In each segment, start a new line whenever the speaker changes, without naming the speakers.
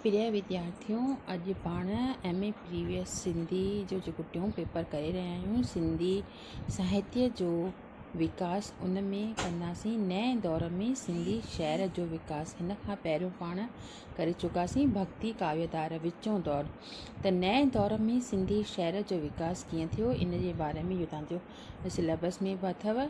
پريا وديارٿيو اڄ پاڻ ايم اي پريويس سنڌي جو جيڪو ٽيون پيپر ڪري رهيا آهيون سنڌي ساهتيه جو وڪاس ان ۾ ڪنداسين نئين دور ۾ سنڌي شعر جو وڪاس هن کان پهريون پاڻ ڪري چڪاسين ڀڳتي ڪاويه ڌار وچون دور ته نئين دور ۾ سنڌي شعر جو وڪاس ڪيئن ٿيو ان جي باري ۾ اهو تانجو سليبس ۾ به اٿو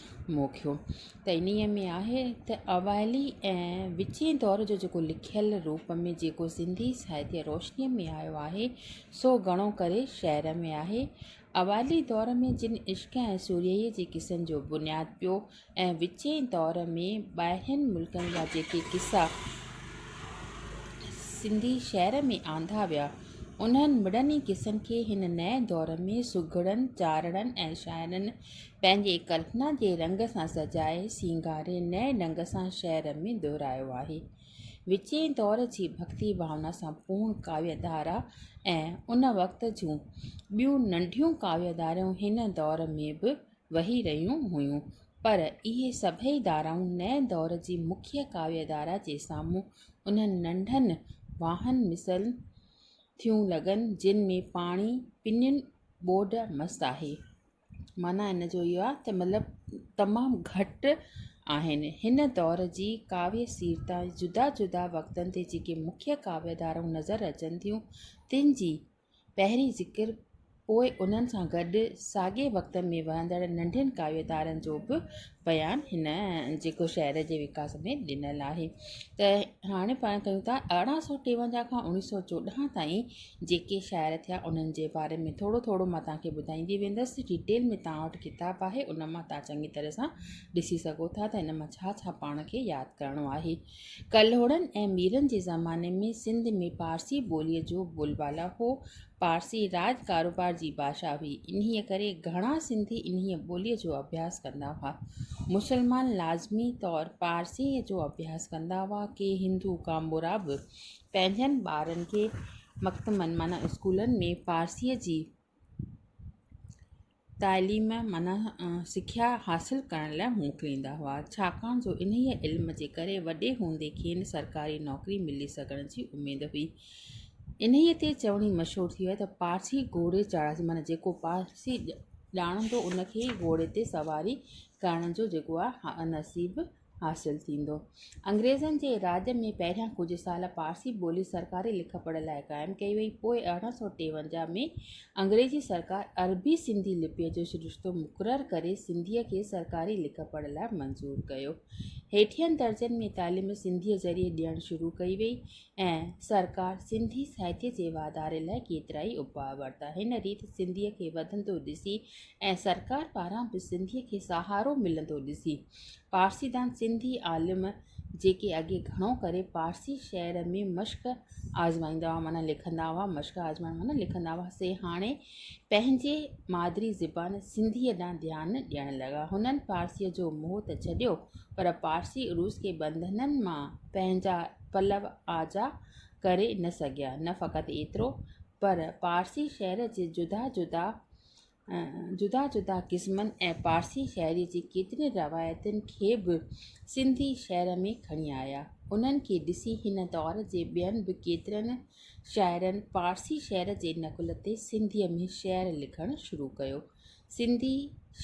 موکيو ته انهيء ۾ آهي ته اوائلي ۽ وچين دور جو جيڪو لکيل روپ ۾ جيڪو سنڌي ساهتيه روشنيء ۾ آيو آهي، سو گهڻو ڪري شعر ۾ آهي. اوائلي دور ۾ جن عشق ۽ سورهيه جي قصن جو بنياد پيو ۽ وچين دور ۾ ٻاهرين ملڪن جا جيڪي قصا سنڌي شعر ۾ آندا ويا، انهن مڙني قصن کي هن نئين دور ۾ سگهڙن، چارڻن ۽ شاعرن پنهنجي ڪلپنا جي رنگ سان سجائي سينگاري نئين ڍنگ سان شعر ۾ دهرايو آهي. وچين دور جي ڀڳتي ڀاونا سان پوڻ ڪاويه ڌارا ۽ ان وقت جون ٻيون ننڍيون ڪاويه ڌاريون هن دور ۾ به وهي رهيون هيون پر اهي سڀئي ڌارائون نئين دور جي مکيه ڪاويه ڌارا جي سامهون انهن ننڍن واهن مثل ٿيون لڳن جن ۾ پاڻي پنين ٻوڏ مس آهي. معنيٰ ان جو اهو آهي ته مطلب تمام گهٽ آهن. هن دور جي ڪاويه سير تان جدا جدا وقتن تي جيڪي مکيه ڪاويه ڌارائون نظر اچن ٿيون، تن جي پهرين ذڪر پوء انهن سان گڏ ساڳئي وقتن ۾ وهندڙ ننڍين ڪاويه ڌارن جو به بيان هن جيڪو شهر جي وڪاس ۾ ڏنل آهي ته هاڻي پاڻ ڪيون ٿا ارڙهن سؤ ٽيونجاهه کان اوڻيهه سؤ چوڏهن تائين جيڪي شاعر ٿيا انهن جي باري ۾ ٿورو ٿورو مان توهان کي ٻڌائيندي ويندس ڊيٽيل ۾ توهان وٽ ڪتاب آهي ان مان توهان چڱي طرح سان ڏسي سگهو ٿا ته ان مان ڇا ڇا پاڻ کي ياد ڪرڻو آهي ڪلهوڙن ۽ ميرن جي زماني ۾ سنڌ ۾ پارسي ٻوليء جو بول بالا هو پارسي راڄ ڪاروبار جي ڀاشا هئي، انهيء ڪري گهڻا سنڌي انهيء ٻوليء جو اڀياس ڪندا هئا. مسلمان لازمي طور پارسيء جو اڀياس ڪندا هئا. ڪي هندو ڪامورا به پنهنجن ٻارن کي مڪتبن معنيٰ اسڪولن ۾ پارسيء جي تعليم معنيٰ سکيا حاصل ڪرڻ لاء موڪليندا هئا، ڇاڪاڻ جو انهيء علم جي ڪري وڏي هوندي کين سرڪاري نوڪري ملي سگهڻ جي اميد هئي. انهيء تي چوڻي مشهور ٿي ويئي ته پارسي گهوڙي چاڙهسي معنيٰ جيڪو پارسي ڄاڻندو ان کي گهوڙي تي سواري ڪرڻ جو جيڪو آهي نصيب حاصل ٿيندو. انگريزن جي راڄ ۾ پهريان ڪجهه سال پارسي ٻولي سرڪاري لک پڙهه لاء قائم ڪئي وئي، پوء ارڙهن سؤ ٽيونجاهه ۾ انگريزي سرڪار عربي سنڌي لپيء جو سرشتو مقرر ڪري سنڌيء کي سرڪاري لک پڙهه لاء منظور ڪيو. هيٺين درجن ۾ تعليم سنڌيء ذريعي ڏيڻ شروع ڪئي وئي. ۽ سرڪار سنڌي ساهتيه جي واڌاري لاء ڪيترائي اپاء ورتا. هن ريت سنڌيء کي وڌندو ڏسي ۽ سرڪار پاران به سنڌيء کي سهارو ملندو ڏسي، پارسيدان سنڌي عالم جيڪي اڳي گهڻو ڪري پارسي شعر ۾ مشق آزمائيندا هئا معنيٰ لکندا هئا، مشق آزمائڻ معنيٰ لکندا هئا، سي هاڻي پنهنجي مادري زبان سنڌيء ڏانهن ڌيان ڏيڻ لڳا. هنن پارسيء جو موهه ته ڇڏيو، پر پارسي عروض کي بندنن مان پنهنجا پلو آجا ڪري نه سگهيا. نه فقط ايترو پر پارسي شعر جي جدا جدا جدا جدا قسمن ۽ پارسي شاعري جي ڪيترين روايتن کي به سنڌي شعر ۾ کڻي آيا. انهن کي ڏسي هن دور جي ٻين به ڪيترن شاعرن پارسي شعر جي نقل تي سنڌيء ۾ شعر لکڻ شروع ڪيو. سنڌي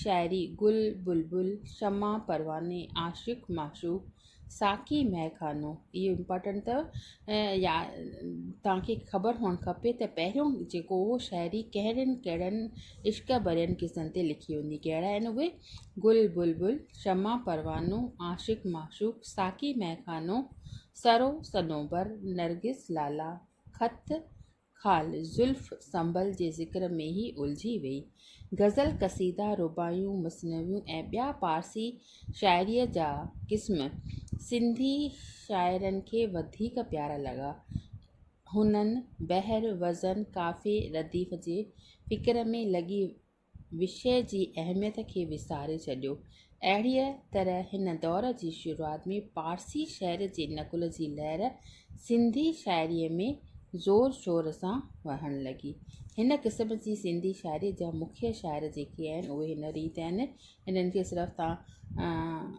شاعري گل، بلبل، شمع، پرواني، عاشق، معشوق، ساقي مئي خانو، اهو امپارٽنٽ اٿو يا توهان کي خبر هئڻ کپي ته پهريون جيڪو هو شاعري ڪهڙين ڪهڙن عشق ڀرين قصن تي لکي وڃي ڪهڙا آهن اهي گل بلبل شمع پروانو عاشق معشوق ساقي مئي خانو سرو صنوبر نرگس لالا خط خال زلف سنبل جي ذڪر ۾ ئي الجهي ويئي. غزل، قصيدا، رباعيون، مثنويون ۽ ٻيا پارسي شاعريء جا قسم سنڌي شاعرن کي وڌيڪ پيارا لڳا. هنن بحر، وزن، قافيي، رديف جي فڪر ۾ لڳي وشي جي اهميت کي وساري ڇڏيو. اهڙيء طرح هن دور جي شروعات ۾ پارسي شعر جي نقل جي لهر سنڌي شاعريء ۾ زور شور سان وهڻ لڳي. هن قسم جي سنڌي شاعريء جا مکيه شاعر جيڪي آهن، اهي هن ريت آهن، انهن کي صرف توهان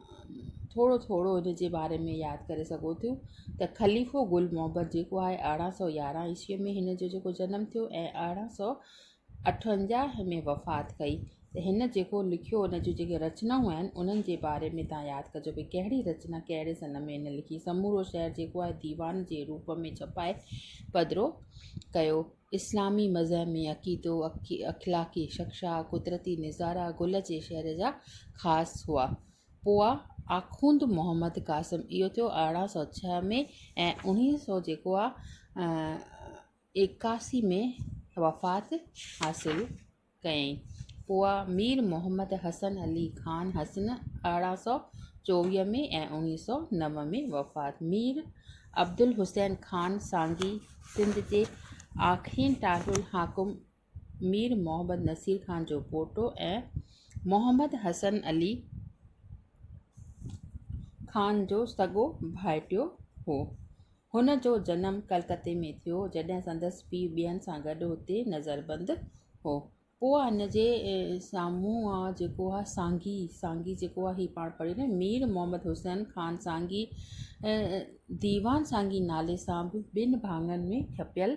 ٿورو ٿورو ان جي باري ۾ ياد ڪري سگهو ٿيون ته خليفو گل محبت جيڪو آهي ارڙهن سؤ يارهن عيسويء ۾ هن جو جيڪو جنم ٿيو ۽ ارڙهن سؤ اٺونجاهه ۾ وفات ڪئي ته هن جيڪو لکيو ان جون جيڪي رچنائون آهن انهن جي باري ۾ توهان ياد ڪجو ڀي ڪهڙي رچنا ڪهڙي سن ۾ هن لکي سمورو شهر جيڪو آهي ديوان جي روپ ۾ ڇپائي پڌرو ڪيو اسلامي مذهمي عقيدو اخلاقي شخشا قدرتي نظارا گل جي شهر جا خاص هئا پوء آخوند محمد قاسم اهو ٿيو ارڙهن سؤ ڇهه ۾ ۽ اڻيهه سؤ جيڪو آهي ايڪاسي ۾ وفات حاصل ڪيائين. پوء مير محمد حسن علي خان حسن ارڙهن سؤ چوويهه ۾ ۽ اوڻيهه سؤ نو ۾ وفات مير عبدالحسين خان سانگي سنڌ جي آخرين ٽاٽل حاڪم مير محمد نصير خان جو پوٽو ۽ محمد حسن علي خان جو سڳو ڀائٽيو هو. هن جو جنم ڪلڪتي ۾ ٿيو، جڏهن سندس پيء ٻين سان گڏ هتي نظربند هو. پوء هن جي سامهون آء جيڪو آهي سانگي، سانگي جيڪو آهي هي پاڻ پڙهيو نه، مير محمد حسين خان سانگي ديوان سانگي نالي سان به ٻن ڀاڱن ۾ ڇپيل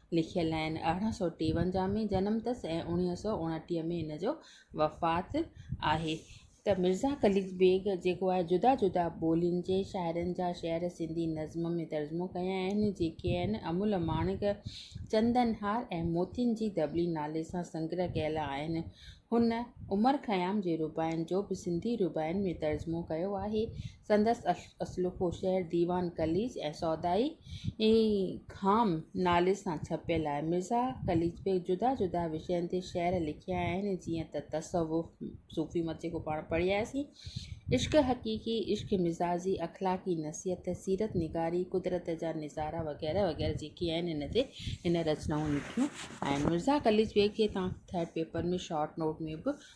لکيل آهن. ارڙهن سؤ ٽيونجاهه ۾ جنم تس ۽ اوڻيهه سؤ اوڻٽيهه ۾ هن جو وفات آهي ته مرزا خليق بيگ جيڪو آهي جدا جدا ٻولين جي شاعرن جا شعر سنڌي نظم ۾ ترجمو ڪيا آهن جيڪي آهن امول ماڻڪ چندن هار ۽ موتين جي دٻلي نالي سان سنگره ڪيل آهن هن عمر خيام جي رباعين جو به سنڌي رباعين ۾ ترجمو ڪيو آهي سندس اصلوڪو شعر ديوان قليچ ۽ سودائي خام نالي سان ڇپيل آهي. مرزا قليچ بيگ جدا جدا وشين تي شعر لکيا آهن، جيئن ته تصوف، صوفي مت جيڪو پاڻ پڙهي آياسين، عشق حقيقي، عشق مزاجي، اخلاقي نصيحت، سيرت نگاري، قدرت جا نظارا وغيره وغيره جيڪي آهن ان تي هن رچنائون لکيون آهن. مرزا قليچ بيگ کي تان ٿرڊ پيپر ۾ شارٽ نوٽ ۾ به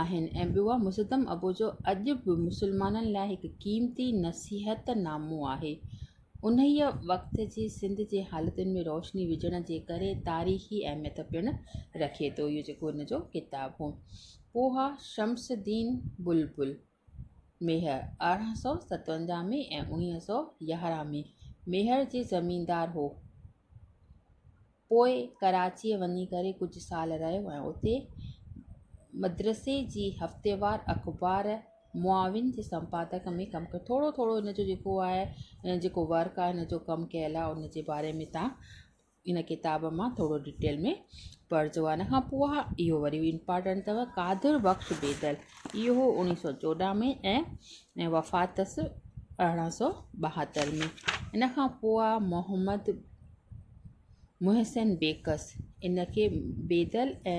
آهن ۽ ٻيو آهي مسدم ابو جو اڄ به مسلمانن لاء هڪ قيمتي نصيحت نامو آهي. انهيء وقت جي سنڌ جي حالتن ۾ روشني وجهڻ جي ڪري تاريخي اهميت پڻ رکي ٿو. اهو جيڪو هن جو ڪتاب هو. پوهه شمس الدين بلبل. ميهڙ، ارڙهن سؤ ستونجاهه ۾ ۽ اڻيهه سؤ يارهن ۾ ميهڙ جي زميندار هو. پوء ڪراچيء وڃي ڪري ڪجهه سال رهيو ۽ اتي مدرسي جي هفتيوار اخبار معاون جي سمپادڪ ۾ ڪم ڪيو. ٿورو ٿورو هن جو جيڪو آهي جيڪو ورڪ آهي هن جو ڪم ڪيل آهي ان جي باري ۾ تان ان ڪتاب مان ٿورو ڊٽيل ۾ پڙھجو ان کان پوء اھو وري بي امپارٽنٽ اٿو قادر بخش بيدل اھو اوڻيھ سو چوڏھن ۾ ۽ ۽ وفات تس ارڙھن سو ٻاھتر ۾ ان کان پوء محمد محسن بيڪس ان کي بيدل ۽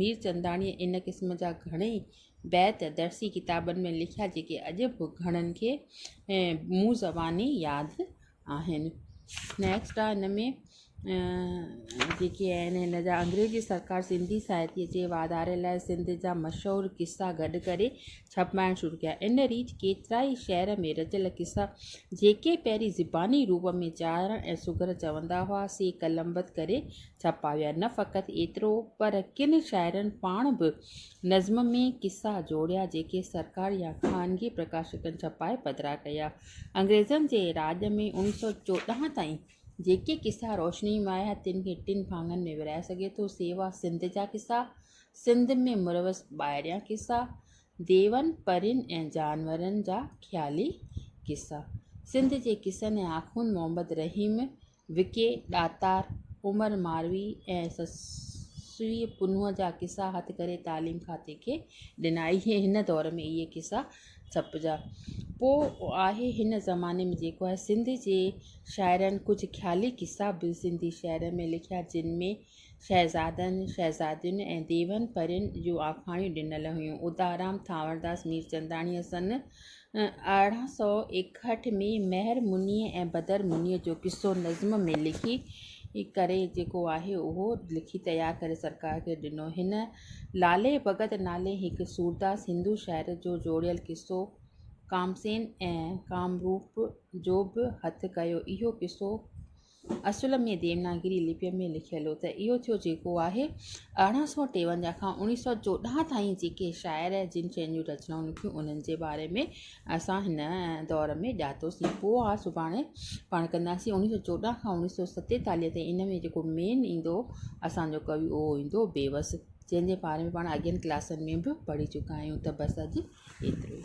ميرچنداڻيء ان قسم جا گهڻيئي بيت درسي ڪتابن ۾ لکيا، جيڪي اڄ به گهڻن کي مون زباني ياد آهن. نيڪسٽ آهي هن ۾ جيڪي آهن هن جا انگريزي سرڪار سنڌي ساهتيء جي واڌاري لاء سنڌ جا مشهور قصا گڏ ڪري ڇپائڻ شروع ڪيا. ان ريت ڪيترائي شعر ۾ رچيل قصا، جيڪي پهرين زباني روپ ۾ چارڻ ۽ سگهر چوندا هئا، سي قلمبند ڪري ڇپا ويا، نه فقط ايترو پر ڪن شاعرن پاڻ به نظم ۾ قصا جوڙيا جيڪي سرڪار يا خانگي پرڪاشڪن ڇپائي پڌرا ڪيا. انگريزن جي راڄ ۾ اوڻيهه سؤ چوڏهن تائين جيڪي قصا روشني ۾ آيا تن کي ٽن ڀاڱن ۾ ورهائي سگهجي ٿو، سيوا سنڌ جا قصا، سنڌ ۾ مروج ٻاهريان قصا، ديون، پرين ۽ جانورن جا خيالي قصا. سنڌ جي قصن ۽ آخوند محمد رحيم وڪي ڏاتار عمر ماروي ۽ سسئي پنهون جا قصا هٿ ڪري تعليم کاتي کي ڏنا اهي هن دور ۾ اهي قصا ڇپجا پو آهي هن زماني ۾ جيڪو آهي سنڌ جي شاعرن ڪجهه خيالي قصا به سنڌي شعر ۾ لکيا جن ۾ شهزادن، شهزادين ۽ ديون پرين جون آکاڻيون ڏنل هيون. ادارام ٿانورداس ميرچنداڻيء سن ارڙهن سؤ ايڪهٺ ۾ مهر منيء ۽ بدر منيء جو قصو نظم ۾ لکي ڪري جيڪو آهي اهو لکي تيار ڪري سرڪار کي ڏنو. هن لالي ڀڳت نالي هڪ سورداس هندو شاعر جو جوڙيل قصو ڪامسين ۽ ڪامروپ جو به هٿ ڪيو. اهو قصو اصل ۾ ديوناگري لپيء ۾ لکيل هو ته اهو ٿيو جيڪو آهي. ارڙهن سؤ ٽيونجاهه کان اوڻيهه سؤ چوڏهن تائين جيڪي شاعر ۽ جن شين جون رچنائون لکيون انهن جي باري ۾ اسان هن دور ۾ ڄاتوسين پوء اها سڀاڻي پاڻ ڪنداسين اوڻيهه سؤ چوڏهن کان اوڻيهه سؤ ستيتاليهه تائين ان ۾ جيڪو مين ايندو اسان جو ڪوي اهو ايندو بيوس جنهن جي باري ۾ پاڻ اڳين ڪلاسن ۾ به پڙهي چڪا آهيون ته بس اڄ ايترو ئي.